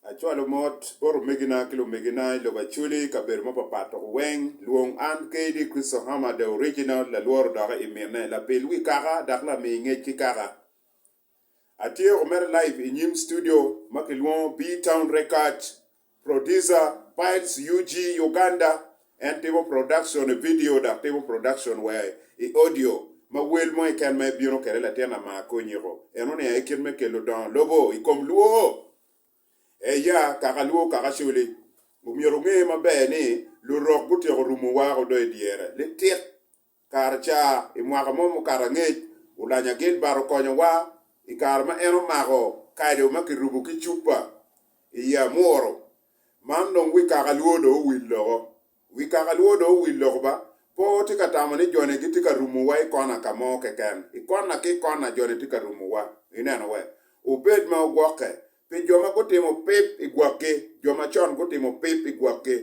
Acwalo mot bot omegina ki lumegina i lobo Acholi i kabedo mapapat dok weng. Lwong an kadi Crystal Hammer the original lalworo doki i mine, lapil wi kaka dok lami ngec ki kaka. Atye woko mere live i nyim studio ma kilwongo B-Town Record Producer, Piles UG, Uganda, En timo productione vidio dok timo production wa i audio ma wel mo keken ma ibino kwede latin ama Konyeko. En oniang aye kit me kelo dongo lobo i kom Luo. Eya, Kaka Luo Kaka Coli, Omyero wunge maber ni Lurok gutyeko rumo wako do i dyere. Litit! Kare ca, i mwaka mo mukato angec, Ulanya Gilbert okonyowa i kare ma en omako kado ma kirubo ki cupa i ye amuru. Man dong wi kaka lwor dong owil loko. Wi kaka lwor dong owil loko ba! Po watye ka tamo ni joni gitye ka rumowa i kona ka mo keken. I kona ki kona joni tye ka rumowa. Ineno? Wek wubed ma ogwokke pi jo ma gutimo pip i gwokgi, jo macon gutimo pip i gwokgi.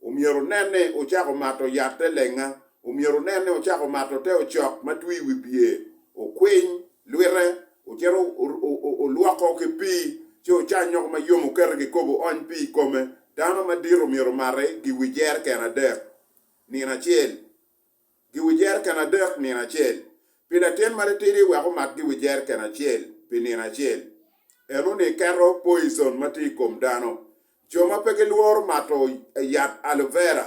Omyero wunen ni wucako mato yat te lenga. Omyero wunen ni wucako mato te ocok ma twi i wi bye. Wukwiny lwite, wucito wulwoko ki pii, ci wucanyoko ma yom wukete kikopo wuony pii i kome. Dano madit omyero omate gi wi jereken adek nino acel. giwi jeriken adek nino acel, pi latin ma litidi wek omat giwi jeriken acel pi nino acel. Eno-ni keto poicon ma tye i kom dano. Jo ma pe gilworo mato yat aloe vera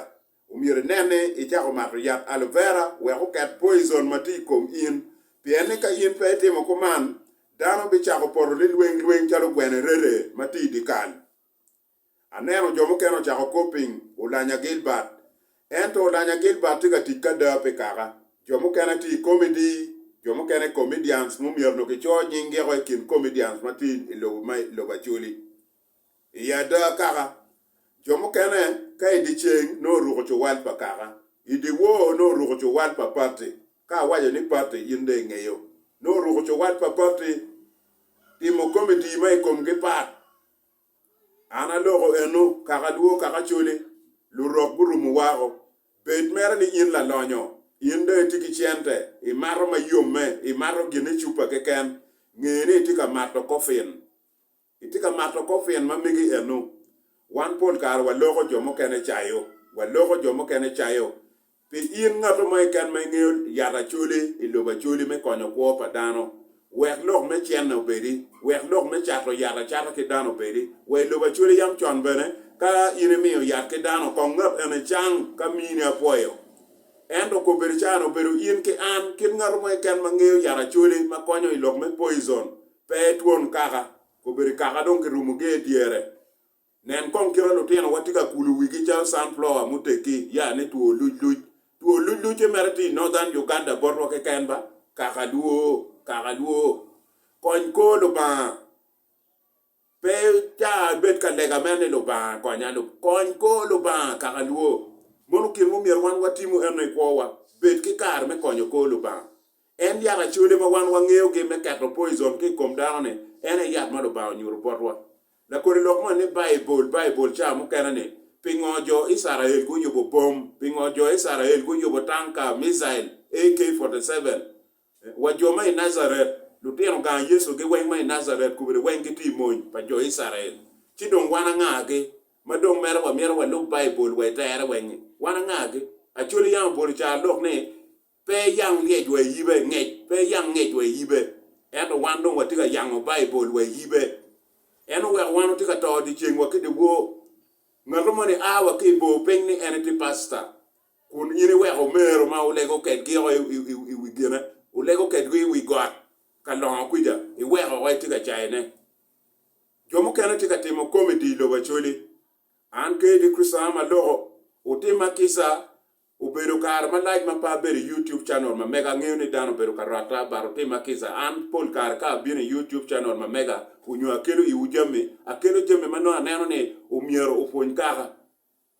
omyero inen ni icako mato yat aloe vera wek oket poicon ma tye i kom in, pien ni ka in pe itimo kuman, dano bicako poto lilweng lweng calo gwene rere ma tye i dye kal. Aneno jo mukene ocako kop piny, Olanya Gilbert. Ento Olanya Gilbert tye ka tic ki ada pi kaka. Jo mukene tye i komedi, jo mukene comedians mumyero onongo kicoyo nying giko i kin comedians ma tye i lobo ma i lobo Acholi. I ada kaka, jo mukene ka i dyeceng nongo oruko cuwal pa kaka, i dyewor nongo oruko cuwal pa patti, ka awaco ni patti in dong ingeyo, nongo oruko cuwal pa patti. Timo komedi ma i komgi pat. An aloko eno kaka alwor kaka cole, lurok gurumo wako. Bed mere ni in lalonyo, in dong itye ki cente, imato ma yomme, imato gin i cupa keken, nge ni itye ka mato kofin. Itye ka mato kofin ma mege eno. Wan pol kare waloko jo mukene cayo, waloko jo mukene cayo, Pi in ngatto mo keken ma ingeyo yat Acholi i lobo Acholi me konyo kwo pa dano, wek lok me cene obedi, wek lok me cato yat acata ki dano obedi, wa i lobo Acholi yam con bene ka in imiyo yat ki dano kong ngat eni cang ka mini apwoyo. Ento kor bedo caane obedo in ki an kit ngatto mo keken ma ngeyo yat Acholi ma konyo i lok me poison pe twon kaka, kor bedo kaka dong kirumo gee dyere. Nen kong kite lutinowa tye ka kulo wigi calo sunflower muteggi, ya ni two lucluc. Two luclucce mere tye i Northern Uganda botwa keken ba? Kaka lwoo! Kaka lwoo! Kony kor Lubanga! Pe ca abed ka lega mere ni Lubanga konya, kony kor Lubanga! Kaka lwoo! Mono gin ma omyero wan watim eno i kwowa, bed ki kare me konyo kor Lubanga. En yat acoli ma wan wangeyogi me keto poison ki i kom dano-ni, en aye yat ma Lubanga onyuto botwa. Lakoni lok moni ni Baibul, Baibul cawa mukene ni, Pingo jo Icrael guyubo bom? Pingo jo Icrael guyubo tanka, missile, AK-47? Wa jo ma i Najaret, lutino gang Yecu-gi weng ma i Najaret kobedi weng gitye i mony pa jo Icrael. Ci dong wan angagi ma dong mere wamito walub Baibul wa i tere weng-ngi? Wan angagi? Acholi yam obuto caro lok ni, Pe iyang ngec wa iyibe, ngec, pe iyang ngec wa iyibe, ento wan dong watye ka yango Baibul wa iyibe. En oweko wan watye ka to dyeceng wa ki dyewor. Ngatu moni a wa ki i bor piny ni en itye pasta, kun in iweko omero ma wulego kedgi oko i wi gine, wulego kedgi i wi got ka longo kwica, iweko oko itye ka cayone. Jo mukene tye ka timo komedi i lobo Acholi. An kadi Kricitona ma loko, wutimma kica Obedo kare malac ma pe abedo i YouTube channel ma mega, angeyo ni dano obedo ka rwatta but otima kica. An pol kare ka abino i YouTube channel ma mega onyo akelo iwu jami, akelo jami ma nongo aneno ni omyero opwony kaka.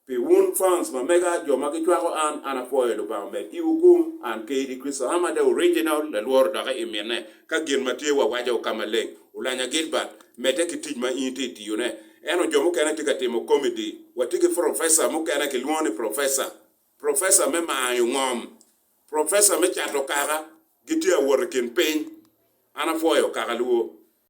Pi wun fans ma mega, jo ma gicwako an, an apwoyo Lubanga omed iwu gung. An Kaydi Kristo Ama the original, lalworo dok i mine. Ka gin ma tye wawaco ka maleng olanya Gilbert, medde ki tic ma in itye tiyo ne. Ento jo mukene tye ka timo komedi. Watye ki profesa mukene kilwongo ni profesa, profesa me mayo ngom, profesa me cato kaka, gitye awot i kin piny. An apwoyo kaka luwo